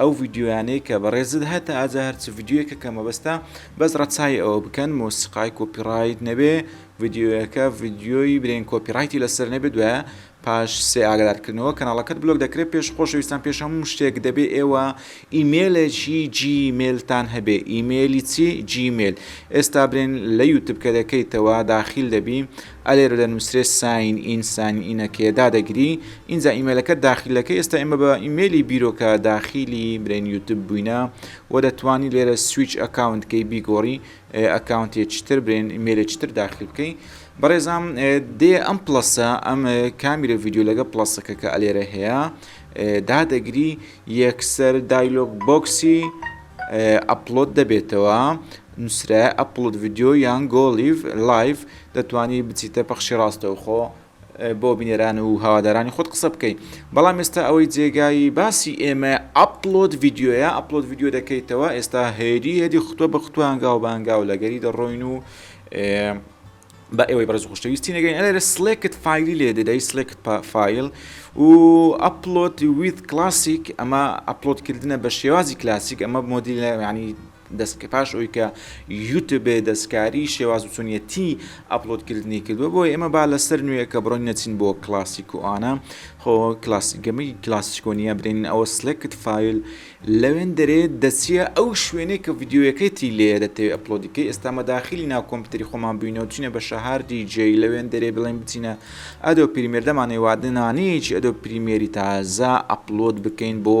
ئەو ڤیدیۆیانەی کە بەڕێزت هەتە ئاجا هەر چ ڤیدیۆیەکە کە مەبەستە بەس ڕەچاوی ئەوە بکەن مۆسیقای کۆپی ڕایت نەبێ ڤیدیۆیەکە ڤیدیۆی برێن کۆپی ڕایتی لەسەر نەبێ دوایە پاش سێ ئاگادارکردنەوە کەناڵەکەت بلۆک دەکرێت پێش خۆشەویستان پێش هەموو شتێک دەبێ ئێوە ئیمێلێکی جیمێلتان هەبێ ئیمێلی چی جیمێل ئێستا برێن لە یوتب کە دەکەیتەوە داخیل دەبی ئەلێرە دەنوسرێ ساین ئین ساین ئینەکێ دادەگری ئینجا ئیمێلەکەت داخیلەکەی ئێستا ئێمە بە ئیمێلی بیرۆکە داخیلی برین یوتب بووینە وە دەتوانی لێرە سویچ ئەکاونت کەی بیگۆڕی ئەکاونتێ چتر برێن ئیمێلێ چتر داخیل بکەی بەڕێزام دێ ئەم پلەسە ئەم کامیرە ڤیددیو لەگە پلەسەکە کە ئەلێرە هەیە دادەگری یەکسەر دایلۆک بۆکسی ئەپلۆت دەبێتەوە نوسرایە ئەپڵۆد ڤیدیۆ یان گۆ لیڤ لایڤ دەتوانی بچیتە پەخشی ڕاستەوخۆ بۆ بینەران و هاوادارانی خۆت قسە بکەی بەڵام ئێستا ئەوەی جێگای باسی ئێمە ئەپلۆد ڤیددیوە ئەپلۆد ڤیددیو دەکەیتەوە ئێستا هێری هەدی خوتوە بە خوتوانگا و بانگا و لەگەری دەڕۆین و بە ئێوەی بەرز خشتەویستی نەگەین ئەلێ لە سلێکت فیلی لێ دەدەی سلێکت فیل و ئەپلۆت ویت کلاسیک ئەمە ئەپلۆدکردنە بە شێوازی کلاسیک ئەمە مۆدیل ینی دەست بکە پاش ئەوی کە یوتب دەستکاری شێواز و چۆنیەتی ئەپلۆد کردنی کردوە بۆ ئێمە با لە سەر نوێ کە بڕۆین نەچین بۆ کلاسیک و ئانا خۆ کلاسی گەمی کلاسیکۆنیە برێنین ئەوە سلکت فیل لەوێن دەرێ دەچیە ئەو شوێنێک کە ڤیددیوەکەی تی لێ دەتەوێت ئەپلۆدیکەی ئێستا مەداخلی ناو کۆمپیوتری خۆمان بینەوە چینە بە شەهار دیجی لەوێن دەرێ بڵێن بچینە ئەدۆ پریمێردەمانەی وادنانەیەکی ئەدۆ پریمێری تازە ئەپلۆد بکەین بۆ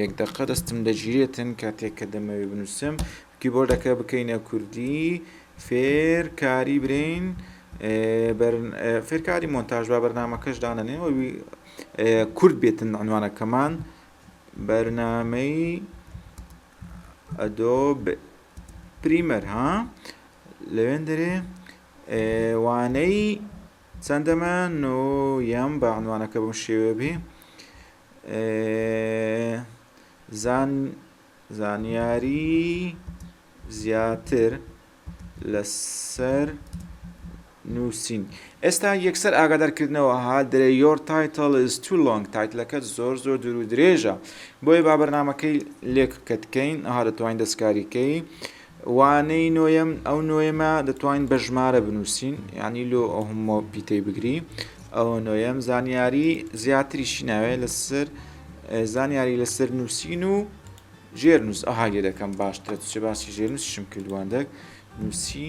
یەک دەقە دەستم دەگیرێتن کاتێک کە دەمەوێ بنوسم کیبۆردەکە بکەینە کوردی فێر کاری برین فێرکاری مۆنتاژ با بەرنمەکەش دانەنێەوەوی کورد بێتن عنوانەکەمان بەرنمەی ئەدۆ پریمەر ها لەوێن دەرێ وانەی چەندەمە نۆیەم بە عنوانەکە بم شێوێ بێ زانیاریی زیاتر لەسەر نووسین ئێستا یەکسەر ئاگادارکردنەوە ها درێ یۆر تایتڵ ئیز تو لۆنگ تایتلەکەت زۆر زۆر دوور و درێژە بۆیە با بەرنامەکەی لێک کەتکەین ها دەتوانین دەستکاریکەی وانەی نۆیەم، ئەو نۆیەمە دەتوانین بە ژمارە بنووسین یعنی لۆ ئەو هەموو پیتەی بگری ئەوە نۆیەم زانیاری زیاتریشی ناوێت لەسەر زانیاری لەسەر نووسین و ژێرنووس ئەها لێ دەکەم باشترە چ باسی ژێرنووسشم کردوان دەک نووسی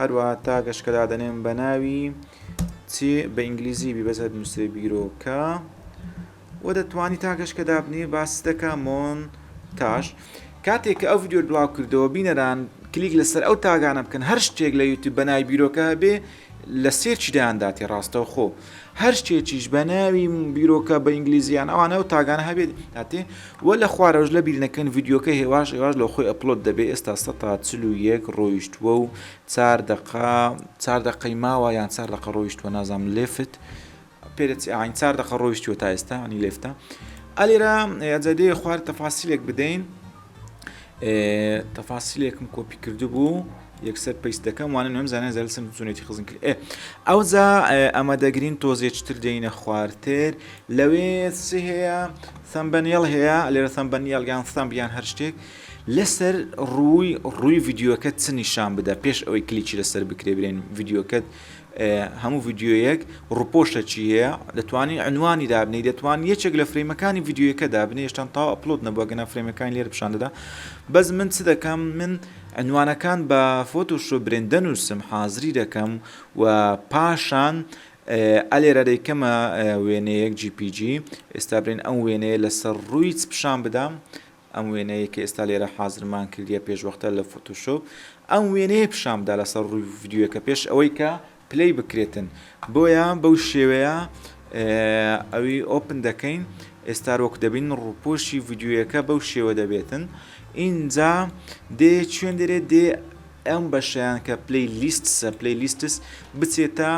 هەروەها تاگەش کە دادەنێم بە ناوی چ بە ئینگلیزی بی بەس هەدنووسێ بیرۆکە و دەتوانی تاگەش کە دابنێ باس دەکا مۆن تاش کاتێک کە ئەو ڤیددیو بڵاو کردەوە بینەران کلیک لەسەر ئەو تاگانە بکەن هەر شتێک لە یوتیوب بە نای بیرۆکە هەبێ لە سێرچیدایانداتێ ڕاستەوخۆ. هەر شتێکیش بە ناوی بیرۆکە بە ئینگلیزی یان ئەوانە و تاگانە هەبێت هاتێ و لە خوارەوەش لە بیر نەکەن ڤیدیۆکە هێواش هێواش لە خۆی ئەپلۆد دەبێت ئێستا سە تا چل و یەک ڕۆیشتووە و چار دەقا چار دەقەی ماوە یان چار دەقە ڕۆیشتووە نازام لێفت پێرەی ئاین چار دەقە ڕۆیشتووە تا ئێستا ئەنی لێفتە ئەلێرا ئەجدێ خوارد تەفاسیلێک بدەین تەفاسیلێکم کۆپی کردبوو یەکسەر پیس دەکەم وانە نوێم زانە زەلسم چونێتی خزم کرد ئێ ئەوجا ئەمە دەگرین تۆزێکتر دێنە خوارتر لەوێ چ هەیە سەمبەنیێڵ هەیە لێرە سەمبەنیێڵ یان سەمب یان هەر شتێک لەسەر ڕووی ڕووی یددیوەکە چ نیشان بدە پێش ئەوەی کلیکی لەسەر بکرێ برێن یددیوەکەت هەموو ڤیدیۆیەک ڕوپۆشتە چی هەیە دەتوانین عنوانی دابنی دەتوان یەکێک لە فرەیمەکانی ڤیددیوەکە دابنی هێشتان تاو ئەپلۆت نەبووە گەنا فرەیمەکان لێر پیشان دەدا بەس من چ دەکەم من عنوانەکان بە فۆتۆشۆ برێندە نووسم حازری دەکەم و پاشان ئەلێرە دەیکەمە وێنەیەک جیPG ئێستا برێن ئەم وێنەیە لەسەر ڕوویت پیشان بدەم ئەم وێنەیەی کە ئێستا لێرە حازرمان کردیە پێشوەختە لە فۆتۆشۆپ ئەم وێنەیە پیشانبدا لەسەر ڕووی ڤیدیۆیەکە پێش ئەوەی کە پلەی بکرێتن بۆیە بەو شێوەیە ئەوی ئۆپن دەکەین ئێستا وەک دەبین ڕووپۆشی ڤیدیۆیەکە بەو شێوە دەبێتن ئینجا دێ چێن دەرێت دێ ئەم بەشیان کە پلی لیست سە پلی لیستس بچێتە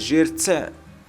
ژێر چە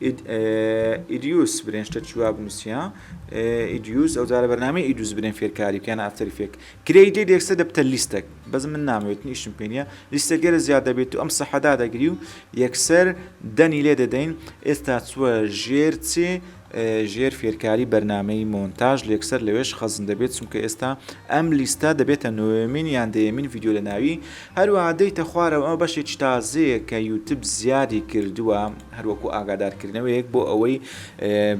ئیدیوس برێن شتە چی وا بنوسیە ئیدیوس ئەو جارە بەرنامەی ئیدوس برێن فێرکاری بکەن ئافتەری فێک کرێی دێ دێکسە دەبتە لیستەک بەس من نامەوێت نیشم پێ نیە لیستە گەرە زیاد دەبێت تو ئەم سەحەدا دەگری و یەکسەر دەنی لێ دەدەین ئێستا چوە ژێر چێ ژێر فێرکاری بەرنامەی مۆنتاژ لێکسەر لەوێش خەزن دەبێت چونکە ئێستا ئەم لیستە دەبێتە نۆێمین یان دەیەمین ڤیددیو لە ناوی هەروە دەیتە خوارەوە ئەمە بەشێکی تازەیە کە یوتب زیادی کردووە هەر وەکو ئاگادارکردنەوەیەک بۆ ئەوەی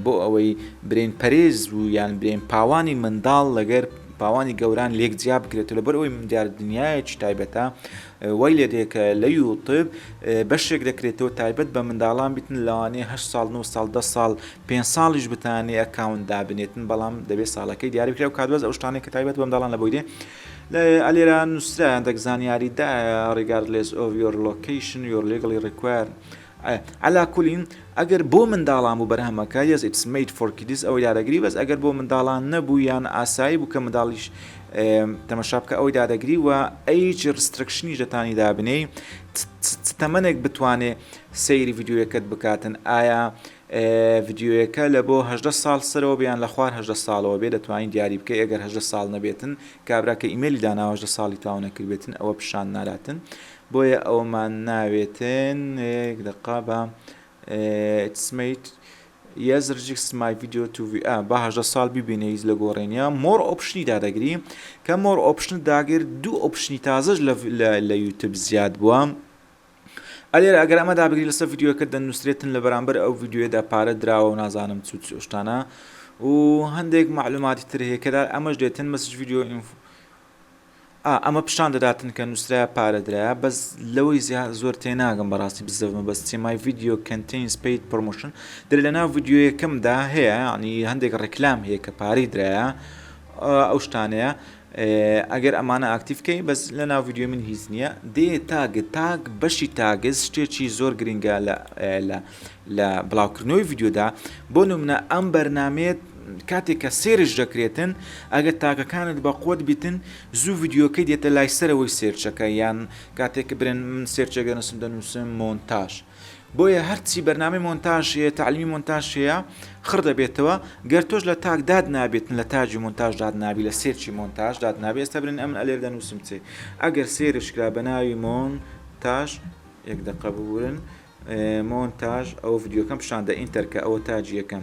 بۆ ئەوەی برین پەرێز و یان برین پاوانی منداڵ لەگەر پاوانی گەوران لێک جیا بکرێت و لەبەر ئەوی من دیار دنیایەکی تایبەتە وای لێ دێکە لە یوتب بەشێک دەکرێتەوە تایبەت بە منداڵان بتن لەوانەیە هە ساڵ 9 ساڵ ده ساڵ پێ ساڵیش بتانێ ئەکاون دابنێتن بەڵام دەبێت ساڵەکەی دیاربکرێ و کادوەز ئەو شتانێک کە تایبەت بە منداڵان لە بۆی دێ لە لێرە نوسرا هەندەک زانیاری دایە Regardless of your location you're legally required عەلا کولین ئەگەر بۆ منداڵان بوو بەرهەمەکە yes it's made for kids ئەوەی دادەگری بەس ئەگەر بۆ منداڵان نەبوو یان ئاسایی بوو کە منداڵیش تەمەشا بکە ئەوەی دادەگری و ئەیچ ڕسترکشنیش دەتانی دابنێی تەمەنێک بتوانێ سەیری ڤیددیوەکەت بکاتن ئایا ڤیدیۆیەکە لە بۆ هەژدە ساڵ سەرەوە بێ یان لە خوار هەژدە ساڵەوە بێ دەتوانی دیاری بکەی ئەگەر هەژدە ساڵ نەبێتن کابرا کە ئیمێلی داناوە هەژدە ساڵی تاو نەکردبێتن ئەوە پیشان ناداتن بۆیە ئەوەمان ناوێتن یەک دەقە با ئیتس مەیت یەز رجیکس مای ڤیدیۆ تو ڤی ئا با هەژدە ساڵ ببینە هیچ لە گۆڕێنە مۆر ئۆپشنی دادەگری کە مۆر ئۆپشنت داگر دوو ئۆپشنی تازەش لە یوتب زیاد بووە ئە لێرە ئەگەر ئەمە دابگری لەسەر ڤیددیوەکە دەنووسێت تن لە بەرامبەر ئەو ڤیددیوێدا پارە دراوە و نازانم چوت سۆشتانە و هەندێک معلوماتی تر هەیەکەدا ئەمەش دێتن مەسج ڤیددیو ئینفۆ ئەمە پیشان دەداتن کە نووسرا پارەدرا بەس لەوەی زیاد زۆر تێناگەم بەڕاستی بزەمە بەس تێمای ڤیددیو کەنتین سپیت پرۆموشن دەێ لە ناو ڤیددیوەکەمدا هەیە ینی هەندێک ڕێکلام هەیە کە پارەی درایە ئەو شتانەیە ئەگەر ئەمانە ئاکتیڤ کەی بەس لە ناو ڤیدیۆی من هیچ نییە دێ تاگ تاگ بەشی تاگز شتێکی زۆر گرنگە لە بڵاوکردنەوەی ڤیددیودا بۆ نمونە ئەم بەرنمێت کاتێک کە سێرش دەکرێتن ئەگەر تاکەکانت بە قوت بیتن زوو ڤیددیوکەی دێتە لای سەرەوەی سێرچەکە یان کاتێک برن من سێرچێک دەنووسم دەنووسم مۆنتاژ بۆیە هەرچی بەرنامەی مۆنتاژ هەیە تەعلیمی مۆنتاژ هەیە خڕ دەبێتەوە گەر تۆش لە تاک داد نابێت لە تاجی مۆنتاژ داد نابی لە سێرچی مۆنتاژ داد نابێت ئێستا برن ئەمن ئەلێر دەنووسم چێ ئەگەر سێرش کرا بە ناوی مۆن تاش یەک دەقە ببورن مۆنتاژ ئەو ڤیددیوکەم پیشاندە ئینتەرکە ئەوە تاجیەکەم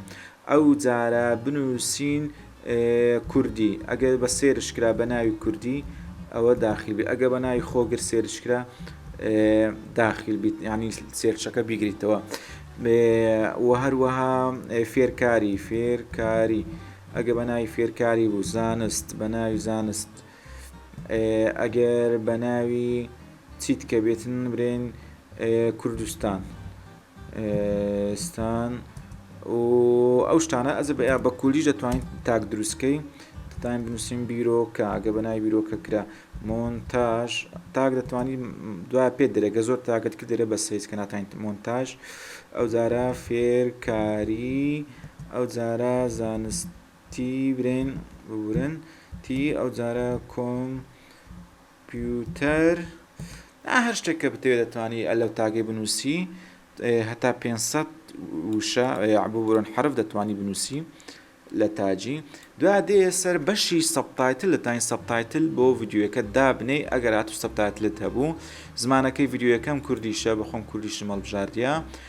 ئەو جارە بنووسین کوردی، ئەگەر بە سێرچ کرا بە ناوی کوردی ئەوە داخیل بیت ئەگەر بە ناوی خۆگر سێرچ کرا داخیل بیت یعنی سێرچەکە بیگریتەوە و هەروەها فێرکاری فێرکاری ئەگە بە ناوی فێرکاری بوو زانست بە ناوی زانست ئەگەر بە ناوی چیت کە بێتن برێن کوردستان ستان و ئەو شتانە ئەزب ئەیا بە کوردیش دەتوانین تاک دروستکەی تایم بنووسین بیرۆکە ئەگە بە ناوی بیرۆکە کرا مۆنتاژ تاک دەتوانی دوای پێ درێگە زۆر تاگەت کە دەرێ بە سەیز کە ناتوانین مۆنتاژ ئەو جارە فێرکاری ئەو جارە زانستی برێن بورن تی ئەو جارە کۆم پیوتەر، نا هەر شتێک کە بتەوێ دەتوانی ئە لەو تاگەی بنووسی هەتا پێنج سەد وشە یاع ببورن حەرف دەتوانی بنووسی لە تاجی دوای دێ سەر بەشی سەبتایتل دەتوانی سەبتایتل بۆ ڤیدیۆیەکە دابنێی ئەگەر هاتوو سەبتایتلت هەبوو زمانەکەی ڤیدیۆیەکەم کوردیشە بەخۆم کوردیشم هەڵبژاردیە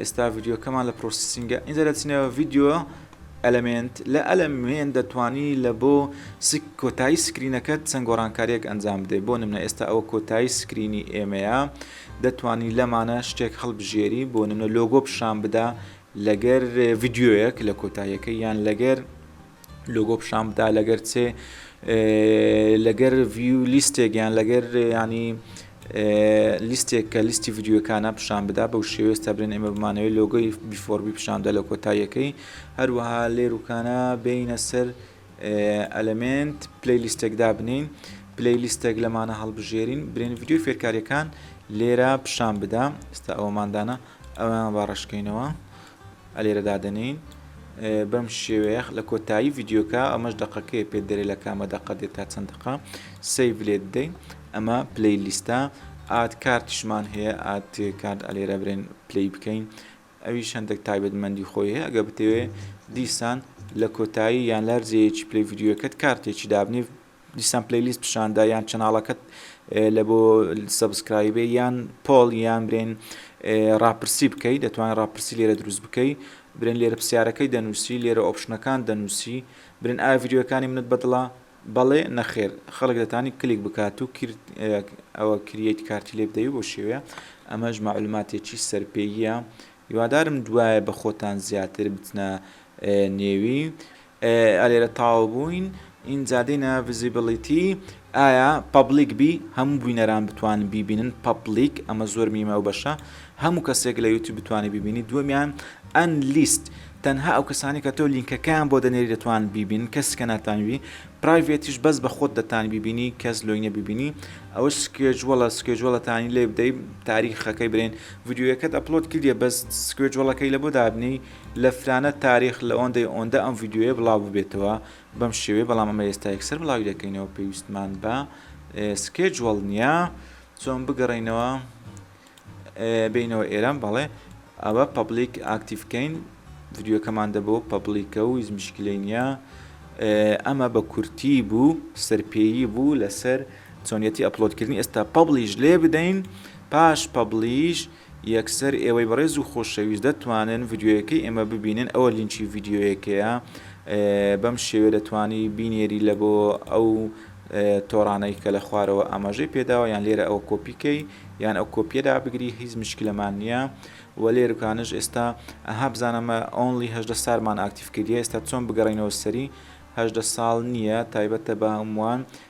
ئێستا ڤیددیوکەمان لە پرۆسیسینگە ئینجا دەچنەوە ڤیددیو ئەلمنت لە ئەلمێن دەتوانی لە بۆ کۆتایی سکرینەکەت چەند گۆڕانکاریەک ئەنجام بدە بۆ نمە ئێستا ئەوە کۆتایی سکرینی ئێمەیە دەتوانی لەمانە شتێک هەڵبژێری بۆ نمە لۆگۆ پیشان بدا لەگەر ڤیددیوەک لە کۆتاییەکە یان لەگەر لۆگۆ پیشان بدا لەگەر چێ لەگەر ڤیو لیستێک یان لەگەر ینی لیستێک کە لیستی ڤیددیوەکانە پیشان بدا بەو شێوێست تا برێن ئێمە بمانەوەی لۆگۆی بیفۆربی پیشاندا لە کۆتاییەکەی هەروەها لێروکانە بینە سەر ئەلمنت پلی لیستێکدا بنین پلی لیستێک لەمانە هەڵبژێرین برێن ڤیددیو فێرکاریەکان لێرە پیشان بدا ئستا ئەوماندانە ئەویان باڕشکینەوە لێرە دادەنێین بەم شێوەیە لە کۆتایی ڤیددیوکە ئەمەش دقەکەی پێ دەرێ لە کامە دەقە دێت تا چەند دقە سیف لێت دەین ئەمە پلی لیستە ئاد کارتشمان هەیە ئاد کارد ئەلێرە برێن پلی بکەین ئەوی شەندێک تایبەتمەندی خۆی هەیە ئەگە بتەوێ دیسان لە کۆتایی یان لەرجەیەکی پلی ڤیددیوەکەت کارتێکی دابنی دیسان پلەیلیست پیشاندا یان چەناڵەکەت لە بۆ سەبسکرایبێ یان پۆڵ یان برێن ڕاپرسی بکەی دەتوانێت ڕاپرسی لێرە دروست بکەی برێن لێرە پرسیارەکەی دەنووسی لێرە ئۆپشنەکان دەنووسی برن ئاڤریۆەکانی منت بەدڵە بەڵێ نەخێر خەڵک دەتانی کلیک بکات و کرد ئەوە کریەیت کارتی لێ بدەوی بۆ شێوەیە ئەمەش معلوماتێکی سەرپێیە هیوادارم دوایە بە خۆتان زیاتر بچنە نێوی ئا لێرە تاو بووین ئینجا دێینە ڤزیبڵیتی ئایا پەبڵیک بی هەموو بوینەران بتوانن بیبینن پەبڵیک ئەمە زۆر میمە ئەو بەشە هەموو کەسێک لە یوتیوب بتوانێت بیبینی دووەمیان ئەن لیست تەنها ئەو کەسانی کە تۆ لینکەکەیان بۆ دەنێری دەتوان بیبین کەس کە ناتانوی پرایڤێتیش بەس بە خۆت دەتان بیبینی کەس لۆینە بیبینی ئەوە سکێجووەڵە سکێجووەڵەتانی لێ بدەی تاریخەکەی برێن ڤیددیوەکەت ئەپلۆد کردە بەس سکێجووەڵەکەی لە بۆ دابنی لە فرانە تاریخ لە ئۆندەی ئۆندە ئەم ڤیدیۆیە بڵاو ببێتەوە بەم شێوەیە بەڵام ئەمە ئێستا یەکسەر بڵاوی دەکەینەوە پێویستمان بە سکێجوەڵ نییە چۆن بگەڕینەوە بینەوە ئێران بەڵێ ئەوە پبلیک ئاکتیفکەین ڤیددیوکەمان دەبەوە پبلیکە و هیچ مشکلی نییە ئەمە بە کورتی بوو سەرپێیی بوو لەسەر چۆنیەتی ئەپلۆدکردنی ئێستا پبلیش لێ بدەین پاش پبلیش یەکسەر ئێوەی بەڕێز و خۆشەویست دەتوانن ڤیدیۆیەکەی ئێمە ببینن ئەوە لینکی ڤیدیۆیەکەیە بەم شێوەیە دەتوانی بینێری لە بۆ ئەو تۆڕانەی کە لە خوارەوە ئاماژەی پێداوە یان لێرە ئەوە کۆپیکەی یان ئەو کۆپیە دابگری هیچ مشکلەمان نییە و لێرکانش ئێستا ئەها بزانەمە ئۆنلی هەشدە سالمان ئاکتیف کردی ئێستا چۆن بگەڕینەوە سەری هەشدە ساڵ نییە تایبەتە بە هەمووان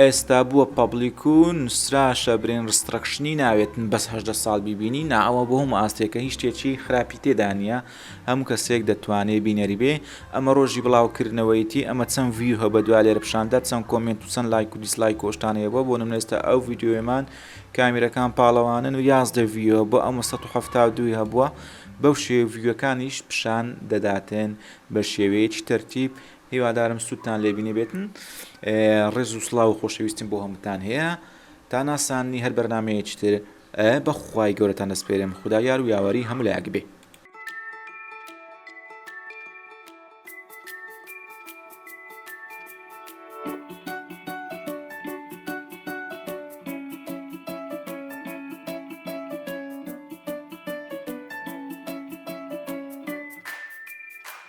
ئێستا بووە پەبلیک و نوسراشە برین ڕستڕەکشنی ناوێتن بەس هەژدە ساڵ بیبینی نا ئەوە بۆ هەموو ئاستێکە هیچ شتێکی خراپی تێدا نییە هەموو کەسێک دەتوانێ بینەری بێ ئەمە ڕۆژی بڵاوکردنەوەیەتی ئەمە چەند ڤیو هەبە دوا لێرە پیشاندا چەند کۆمێنت و چەند لایک و دیسلایک و ئەو شتانە هەبووە بۆ نمونە ئێستا ئەو ڤیدیۆیەمان کامیرەکان پاڵەوانن و یازدە ڤیو بۆ ئەمە سەد و حەفتا و دووی هەبووە بەو شێوەیە ڤیوەکانیش پیشان دەداتێن بە شێوەیەکی تەرتیب هیوادارم سوودتان لێ بینیبێتن ڕێز و سڵاو و خۆشەویستیم بۆ هەمووتان هەیە تا ناساندنی هەر بەرنامەیەکی تر بە خوای گەورەتان دەسپێرێم خودا یار و یاوەری هەموو لایەک بێ